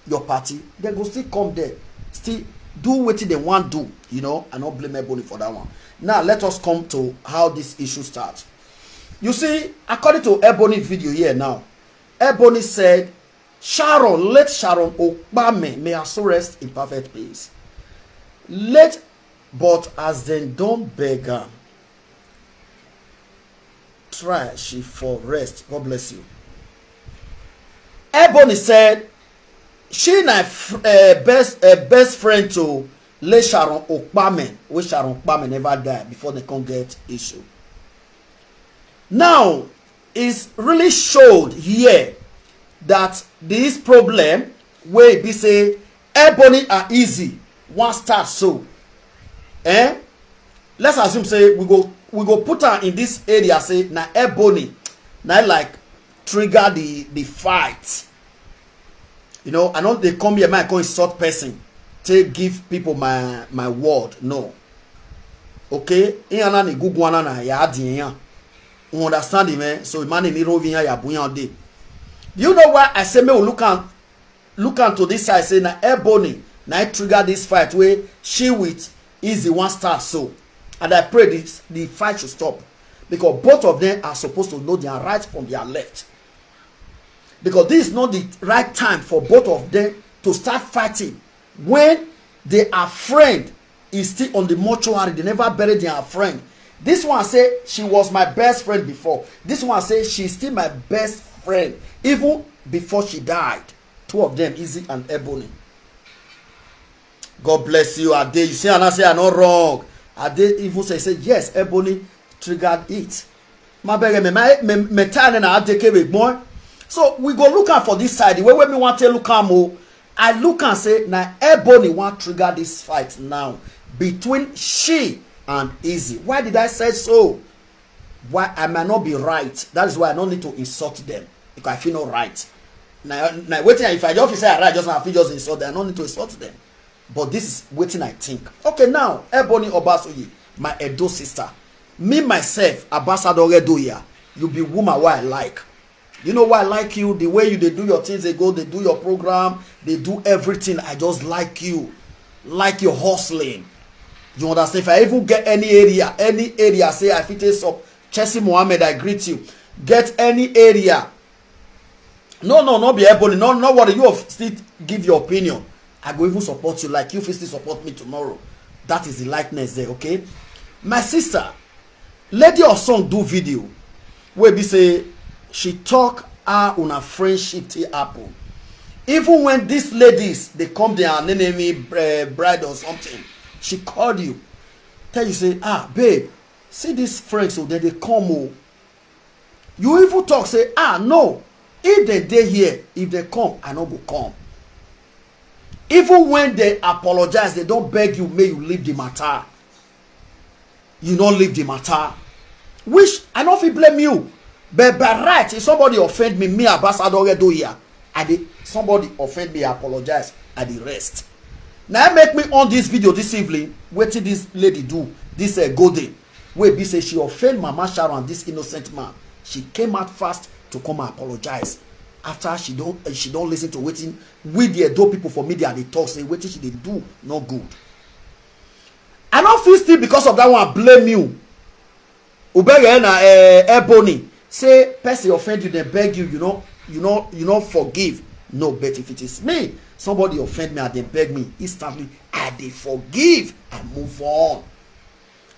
your party dem go still come there still do wetin dem wan do you know i no blame ebony for that one now let us come to how this issue start you see according to ebony video here now ebony said sharon let sharon okpame may her soul rest in perfect peace let but as dem don beg am try she for rest god bless you ebony said she na uh, best uh, best friend to le sharon okpame wey sharon okpame never die before they come get issue now is really showed here that this problem wey be say Ebony and Easy wan start so. Eh? Let's assume say we go we go put am in this area say na Ebony na like trigger the the fight. You know, I know they come here, my come insult person, take give people my my word. No. Okay? Iyana ni gugu ana na ya adi yan. You understand me? So man ni rovin ya ya buyan dey. Do you know why I say me we look at look am to this side say na ebony na it trigger this fight wey she with easy one star so and i pray this the fight should stop because both of them are supposed to know their right from their left because this is not the right time for both of them to start fighting when they are friends is still on the mortuary they never bury their friend this one say she was my best friend before this one say she still my best friend even before she died two of them easy and ebony god bless you ade you see and i say i no wrong ade even say say yes ebony triggered it ma bẹ̀rẹ̀ mẹ̀ta ẹni na adeke be gbọ́n so we go look am for this side the way wey me wan take look am o i look am say na ebony wan trigger this fight now between she and easy why did i say so why i might not be right that is why i no need to insult them because i feel no right na na wetin if i just feel say i right just now i fit just insult them i no need to insult them but this is wetin i think okay now ebony obasoye my edo sister Me myself, Ambassador Redoya, you be woman wey I like. You know why I like you? The way you dey do your things, they go, they do your program, they do everything. I just like you. Like your hustling. You understand? If I even get any area, any area, say I fit take some Chelsea Mohammed, I greet you. Get any area no no no be ebony no no worry you still give your opinion i go even support you like you fit still support me tomorrow that is the likeness there okay my sister lady of song do video wey be say she talk how una friendship take happen even when these ladies dey come their nenemi eh, bride or something she call you tell you say ah babe see these friends o oh, dem dey come o oh. you even talk say ah no if they dey here if they come i no go come even when they apologize they don beg you make you leave the matter you no leave the matter which i no fit blame you but by right if somebody offend me me ambassador redoya i dey somebody offend me i apologize i dey rest na make me on this video this evening wetin this lady do this uh, golden wey be say she offend mama sharon and this innocent man she came out fast to come apologize after she don eh, she don listen to wetin we the edo people for media dey talk say wetin she dey do no good i no fit still because of that one blame you ubeghe na eh, ebony say person offend you dem beg you you no you no you no forgive no but if it is me somebody offend me and dem beg me instantly i dey forgive and move on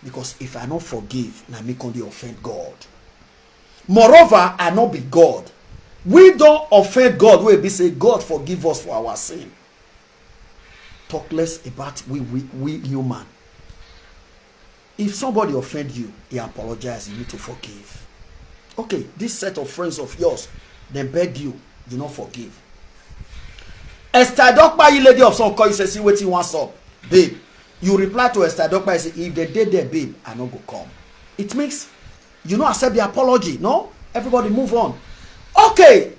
Because if I no forgive, na me come dey offend God. Moreover, I no be God. We don offend God wey be say God forgive us for our sin. Talk less about we we we human. If somebody offend you, he apologize, you need to forgive. Okay, this set of friends of yours, they beg you, you no forgive. Esther Dokpa, you lady of some call, you say, see wetin wan sup, babe. You reply to Esther Dokpa say if they dey there babe I no go come. It means you no accept the apology no everybody move on. Okay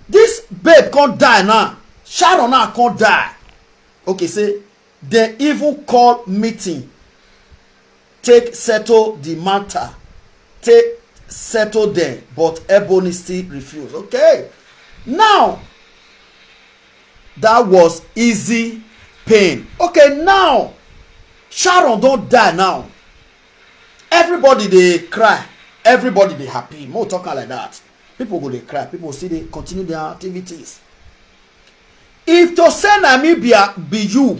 this babe come die now Sharon now come die. Okay say they even call meeting take settle di matter take settle dem but ebony still refuse okay now that was easy pain okay now sharon don die now everybody dey cry everybody dey happy more talk am like that people go dey cry people still dey continue their activities if to say na me be, be you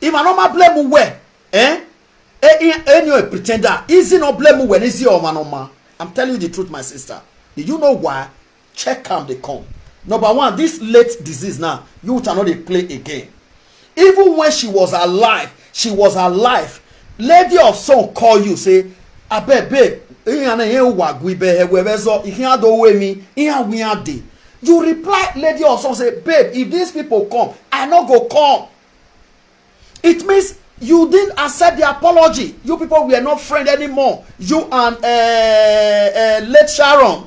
If I normal blame mu wɛ eh any a pretender easy no blame mu wɛ easy ɔma no ma I'm telling you the truth my sister do you know why check am dey come number one this late disease now you ta no dey play again even when she was alive she was alive lady of song call you say abeg babe ihe na ihe ụwa gụ ibe ha were zọ ihe adowe mi ihe agwụnye adị you reply lady of song say babe if these people come i no go come it means you didn't accept the apology you people were not friend anymore you and uh, uh, late sharon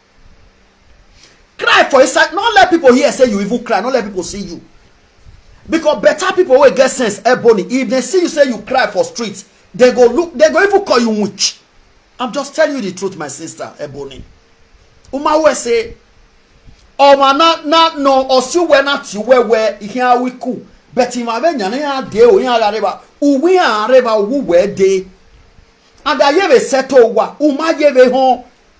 cry for inside no let people hear say you even cry no let people see you because better people wey get sense ebony if they see you say you cry for street they go look they go even call you witch i'm just telling you the truth my sister ebony umawe say ọmọ na na na ọsiwe na ti wewe ihe awiku but him ave nyane ya de o ya reba uwe ya reba uwe de and ayebe seto wa uma yebe ho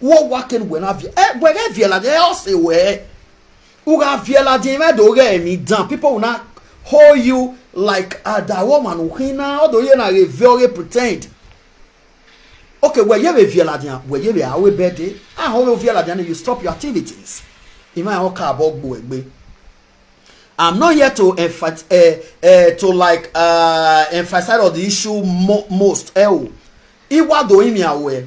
wo wa ke we na vie eh we ke vie la de o se we u ga vie la de me do re mi dan people will not hold you like uh, that woman u hin na o do ye na re very pretend okay we ye be vie la de we ye be a we be de ah ho vie la de you stop your activities in my own car bo gbo egbe I'm not here to emph uh, eh, uh, eh, to like uh, emphasize on the issue mo most. Eh, oh. Iwa do imi awe.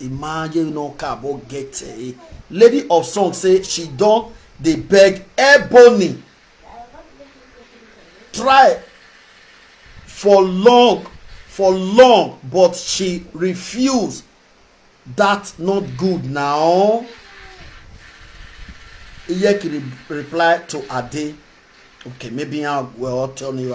imagine no car but get a lady of song say she don dey beg ebony try for long for long but she refuse that not good now iyeki reply to ade okay maybe i will tell you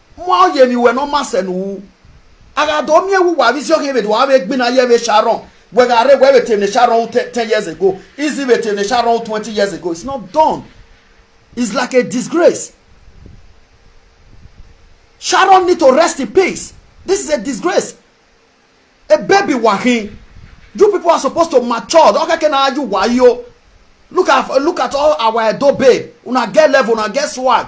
mwa oye mi we no mase nu aga do mi ewu wa visio ke be do wa be gbina ye be sharon we ga re we be te ne sharon 10 years ago is it be te ne sharon 20 years ago it's not done it's like a disgrace sharon need to rest in peace this is a disgrace a baby wahin you people are supposed to mature okay can I you why you look at look at all our edo babe una get level una get swag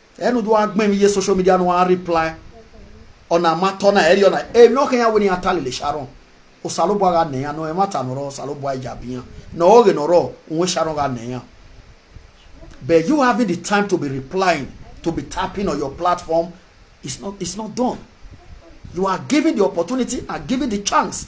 enu do agbe mi ye social media no one reply ona mato na eri ona e no kenya woni atale le sharon o salo bo ga neya no e mata no ro salo bo aja biya no o ge no ro won sharon ga neya but you having the time to be replying to be tapping on your platform it's not it's not done you are given the opportunity and given the chance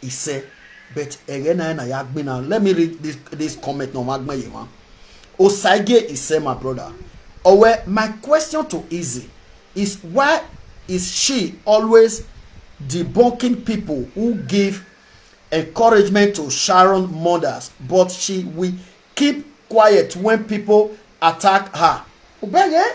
he say but ere na na ya gbe na let me read this this comment na ma gbe ye ma osaige he say my brother owe my question to easy is why is she always debunking people who give encouragement to Sharon mothers, but she will keep quiet when people attack her. Obey, eh?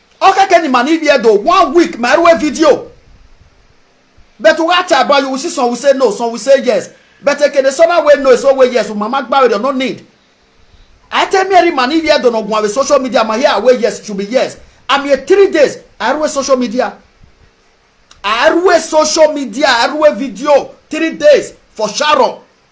ọka kẹni ma ni iye do one week ma ẹrú ẹ fídíò but wa ta about you we see some we say no some we say yes but ekene sọba wey no so wey yes mama gba wey no need I tell me every man if you don't know social media ma here wey yes should be yes I'm here three days I run social media I run social media I run video three days for Sharon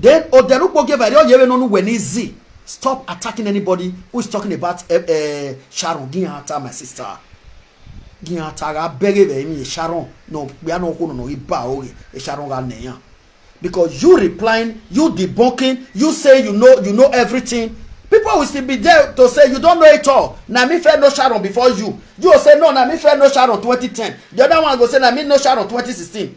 Then Oderukpo gave Adeoye wey no know when easy. Stop attacking anybody who is talking about uh, uh, Sharon Ginhata, my sister. Ginhata ra bere be mi Sharon no we are no kono no iba ori e Sharon ra neyan. Because you replying, you debunking, you say you know you know everything. People will still be there to say you don't know it all. Na me fair no Sharon before you. You will say no, na me fair no Sharon 2010. The other one go say na me no Sharon 2016.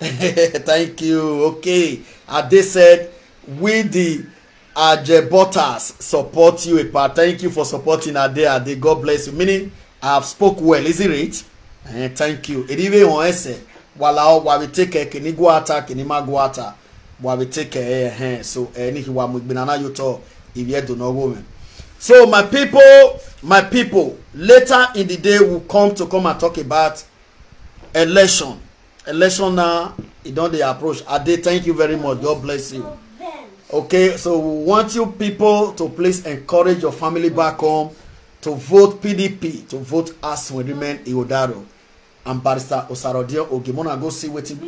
thank you okay ade said we the ajebotas support you epa thank you for supporting ade ade god bless you meaning i have spoke well is it right uh, thank you eribe on ese wala wa we take a kini go attack kini ma go attack bua be take eh eh so eh ni hiwa mu igbina na yoto ibi edo no wo me so my people my people later in the day will come to come and talk about election election now e don dey approach ade thank you very much god bless you okay so we want you people to please encourage your family back home to vote pdp to vote as we remain iodaro and barrister Osarodie Oge. Mona go see wetin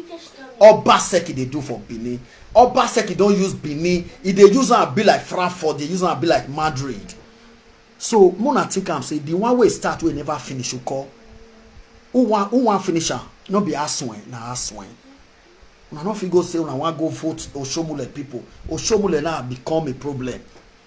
Obaseki dey do for Benin. Obaseki don use Benin. E dey use am be like Frankfurt, dey use am be like Madrid. So Mona think am say the one wey start wey never finish you call. Who wan who wan finish am? No be Aswen, na Aswen. Una no fit go say una wan go vote Oshomule people. Oshomule now become a problem.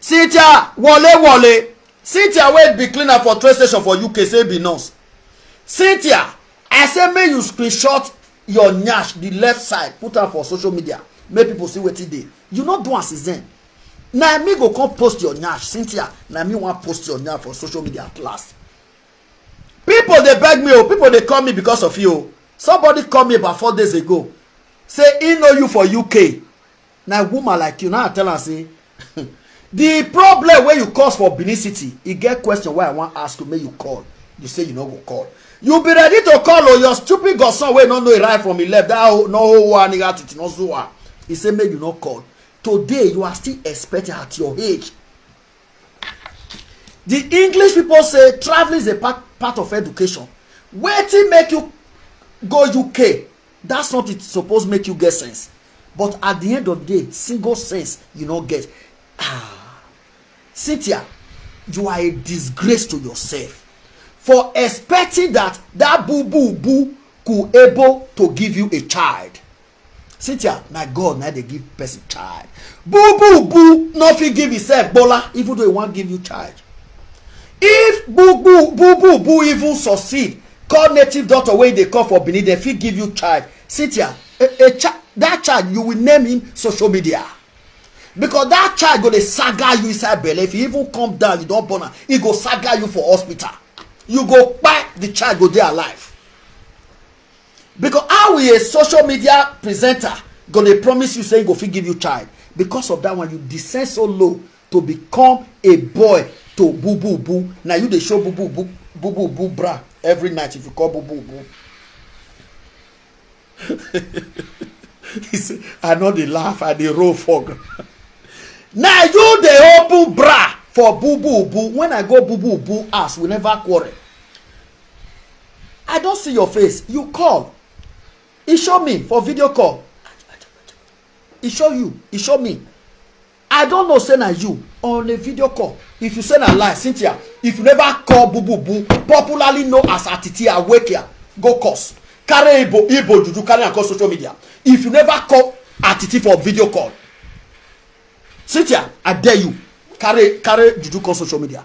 Cynthia Wole Wole Cynthia wey be cleaner for train station for UK say be nurse. Cynthia I say make you screenshot your nyash the left side put am for social media make people see wetin dey. You no do am since then. Na me go come post your nyash Cynthia na me wan post your nyash for social media at last. People dey beg me o oh, people dey call me because of you o. Oh. Somebody call me about four days ago say he know you for UK na woman like you now i tell am say the problem wey you cause for benin city e get question wey i wan ask you make you call you say you no go call you be ready to call o oh, your stupid godson wey no know e right from e left that whole no whole one nigga titi no zuwa e say make you no call today you are still expecting at your age the english people say traveling is a part, part of education wetin make you go uk That's not it suppose make you get sense. But at the end of the day, single sense you no get. Ah. Cynthia, you are a disgrace to yourself for expecting that that boo boo boo could able to give you a child cynthia na god na dey give person child boo boo boo no fit give himself bola even though he wan give you child if boo boo boo boo boo even succeed call native doctor wey dey call for benin dem fit give you child cynthia a a child that child you will name him social media because that child go dey saga you inside belle if you even come down you don born am e go saga you for hospital you go kpai the child go dey alive because how a social media presenter go dey promise you say he go fit give you child because of that one you descend so low to become a boy to bubu bu na you dey show bubu bu bubu bu bra every night if you call bubu bu he say i no dey laugh i dey roll for ground na you dey open bra for bubu bu when i go bubu bu house we never quarrel i don see your face you call e show me for video call e show you e show me I don't know say na you on a video call if you say na lie Cynthia if you never call bububu popularly known as Atiti Awekia go cause carry Igbo Igbo juju carry am come social media if you never call Atiti for video call Cynthia I dare you carry carry juju come social media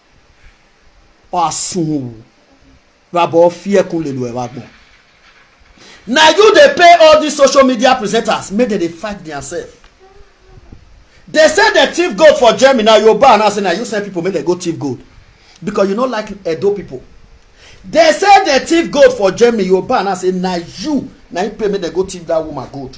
Oasunwu. Rabo Fiekun Lelu Ewagbon. Now you they pay all these social media presenters make dem dey fight themselves. They say dem thief gold for Germany na Yoruba and I say na you send people make dem go thief gold because you no like Edo people. They say dem thief gold for Germany Yoruba and I say na you na you pay make dem go thief that woman gold.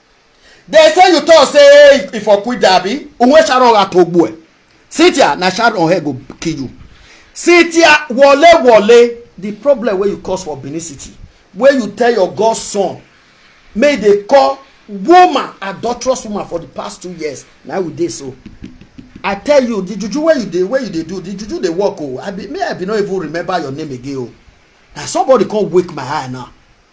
they say you talk say if for quit abi unwe sharon atogbu e sitia na sharon head go kill you sitia wole wole the problem wey you cause for benin city wey you tell your godson make e dey call woman adulterous woman for the past two years na we dey so i tell you the juju wey you dey wey you dey do the juju dey work o oh. i be me i be no even remember your name again o oh. na somebody come wake my eye now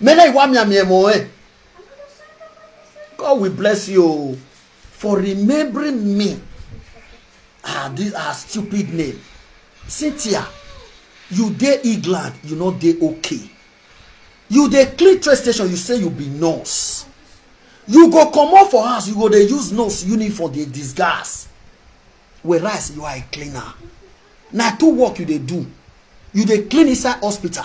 mena iwa mi ami emo eh God will bless you oh, for remembering me ah this ah stupid name Cynthia you dey England you no dey okay you dey clean train station you say you be nurse you go comot for house you go dey use nurse uniform dey disguise whereas you are a cleaner na two work you dey do you dey clean inside hospital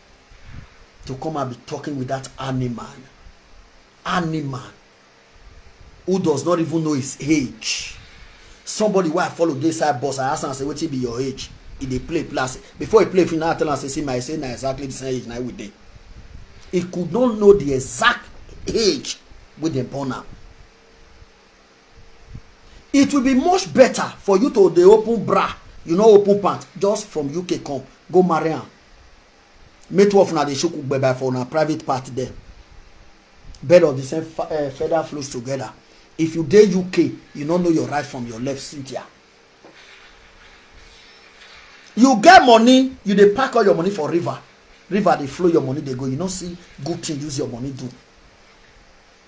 to come and be talking with that animal animal who does not even know his age somebody wey i follow dey side bus i ask am say wetin be your age e dey play plus before e play finish i tell am say see my say na exactly the same age na we dey e could not know the exact age wey dem born am it will be much better for you to dey open bra you no open pant just from uk come go marry am make two of una dey shook gbẹbẹ for una private part there bed of the same uh, feather flows together if you dey uk you no know your right from your left cynthia you get money you dey pack all your money for river river dey flow your money dey go you no see good thing use your money do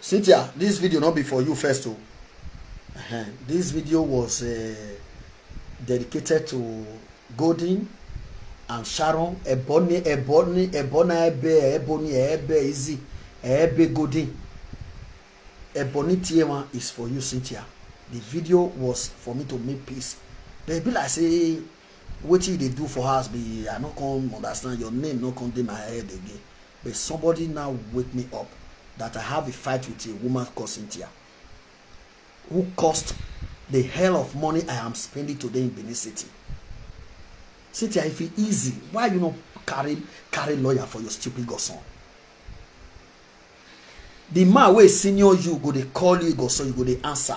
Cynthia, this video not be for you first o. Uh-huh. This video was uh, dedicated to Golden and Sharon Ebony Ebony Ebony Ebe Ebony Ebe Izzy Ebe Golden. Ebony Tiema is for you, Cynthia. The video was for me to make peace. They be like say wetin you dey do for house be i no come understand your name no come dey my head again but somebody now wake me up that i have a fight with a woman called cynthia who caused the hell of money i am spending today in benin city cynthia if e easy why you no carry carry lawyer for your stupid godson the man wey senior you go dey call you godson you go dey answer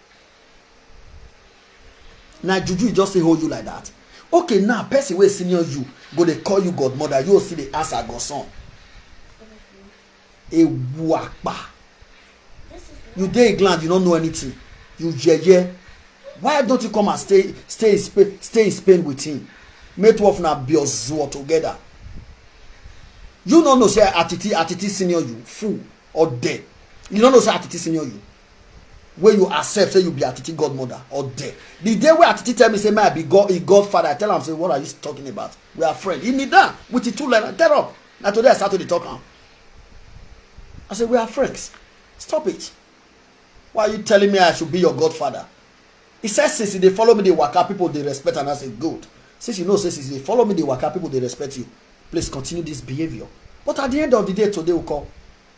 na juju e just dey hold you like that okay now person wey senior you go dey call you godmother you still dey answer godson ewu apa you dey england you no know anything you yeye why don't you come and stay stay in spain stay in spain with him make two of una be ozuo together you no know say atiti atiti senior you fool or dead you no know say atiti senior you wey you accept say you be atiti godmother or there the day wey atiti tell me say may i be god im godfather i tell am say what are you talking about we are friends he kneel down with him two leg and tell up na today i start to dey talk am i say we are friends stop it why are you telling me i should be your godfather he said since he dey follow me dey waka people dey respect am i say good since you know say since you dey follow me dey waka people dey respect you please continue this behaviour but at the end of the day today we call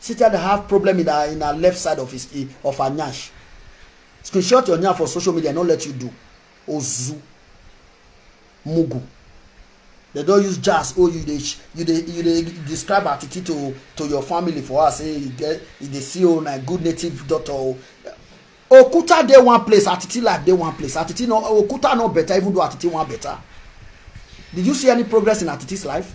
Cynthia dey have problem in her in her left side of his of her nyash. Screenshot your nyash for social media, no let you do. Ozu. Mugu. They don use jazz oh you dey you dey you dey describe attitude to to your family for us say you get you dey see oh na good native daughter oh. Okuta dey one place, attitude life dey one place. Attitude no Okuta no better even though attitude one better. Did you see any progress in attitude's life?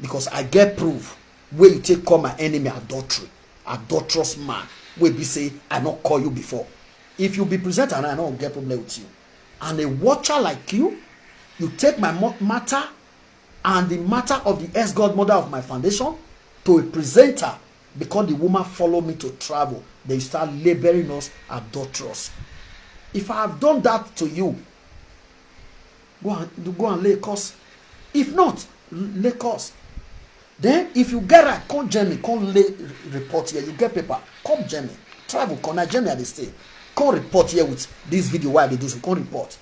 because i get proof wey you take call my enemy adultery adulterous man wey be say i no call you before if you be presenter and i no get problem with you and a watcher like you you take my matter and the matter of the ex godmother of my foundation to a presenter because the woman follow me to travel they start laboring us adulterous if i have done that to you go and go and Lagos if not Lagos then if you get right come Germany come lay report here you get paper come Germany travel come na Germany I dey stay come report here with this video wey I dey do so come report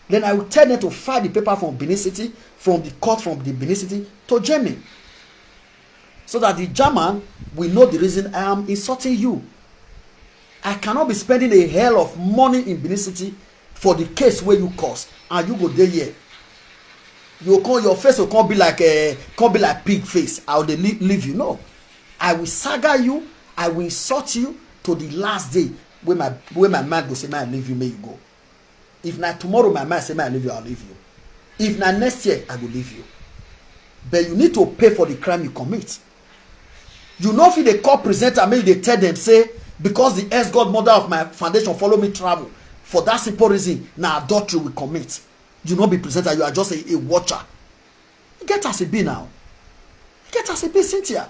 then I will tell them to file the paper from Benin City from the court from the Benin City to Germany so that the German will know the reason I am insulting you I cannot be spending a hell of money in Benin City for the case wey you cause and you go dey here you come your face go come be like uh, come be like pig face i go dey leave you no i will saga you i will insult you to the last day wey my wey my mind go say make i leave you make you go if na tomorrow my mind say make i leave you i leave you if na next year i go leave you but you need to pay for the crime you commit you no fit dey call presenter make you dey tell dem say because the ex godmother of my foundation follow me travel for that simple reason na adultery we commit you no be presenter you are just a, a watcher e get as e be now e get as e be cynthia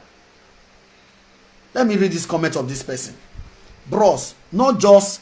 let me read this comment of this person bros not just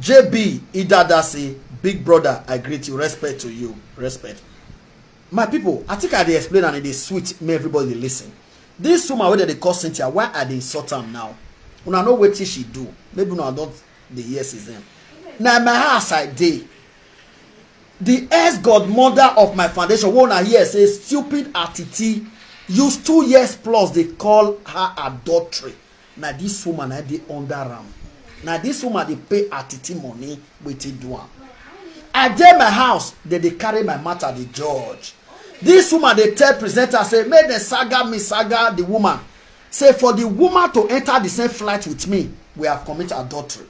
JB Idada say, Big brother, I greet you. Respect to you. Respect. My people, I think I dey explain and it is sweet. May everybody dey listen. This woman wey dem dey call Cynthia, why I dey insult am now? Una know wetin she do. Maybe una don dey hear since then. Na my house I dey. The ex-godmother of my foundation, wey una hear say stupid attitude, use two years plus dey call her adultery. Na this woman na dey under am. Na this woman dey pay her titi money wey take do am. I dey my house, dem dey carry my matter dey judge. This woman dey tell presenter say make dem saga me saga the woman. Say for the woman to enter the same flight with me, we have commit adultery.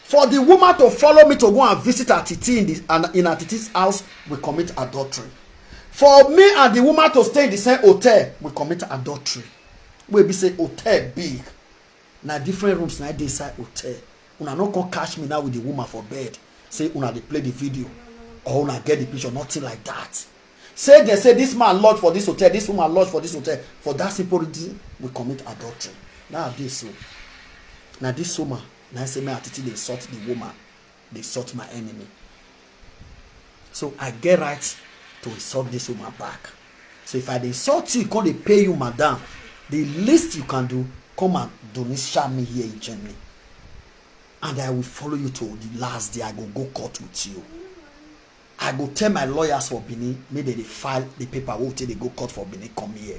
For the woman to follow me to go and visit her titi in, the, in her titi's house, we commit adultery. For me and the woman to stay in the same hotel, we commit adultery. wey be say hotel big na different rooms na dey inside hotel una no come catch me now with the woman for bed say una dey play the video or una get the picture nothing like that say they say this man lodge for this hotel this woman lodge for this hotel for that simple reason we commit adultery now this so na this woman na say me atiti dey insult the woman dey sort my enemy so i get right to insult this woman back so if i dey insult you come dey pay you madam the least you can do come and donisha me here in germany and i will follow you to the last day i go go court with you i go tell my lawyers for benin make dem dey file the paper wey we take dey go court for benin come here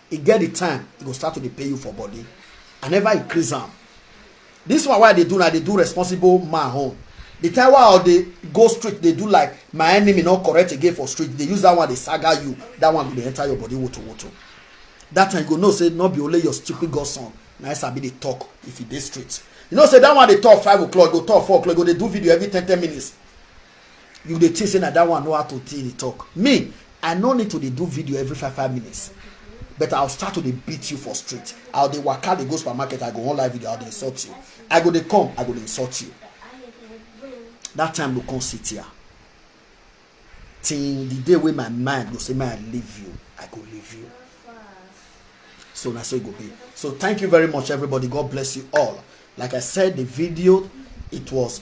e get the time e go start to dey pay you for body i never increase am this one wey i dey do na i dey do responsible man own the time wey i dey go street dey do like my enemy no correct again for street dey use that one dey saga you that one go dey enter your body woto woto that time you go know say no be only your stupid godson na i sabi dey talk if you dey street you know say that one dey talk five o'clock go talk four o'clock go dey do video every ten ten minutes you dey think say na that one know how to tell dey talk me i no need to dey do video every five five minutes but i'll start to dey beat you for street i'll dey waka dey go supermarket i go wan live video i'll dey insult you i go dey come i go dey insult you that time go come sit here till the day wey my mind go say may i leave you i go leave you so na so e go be so thank you very much everybody god bless you all like i said the video it was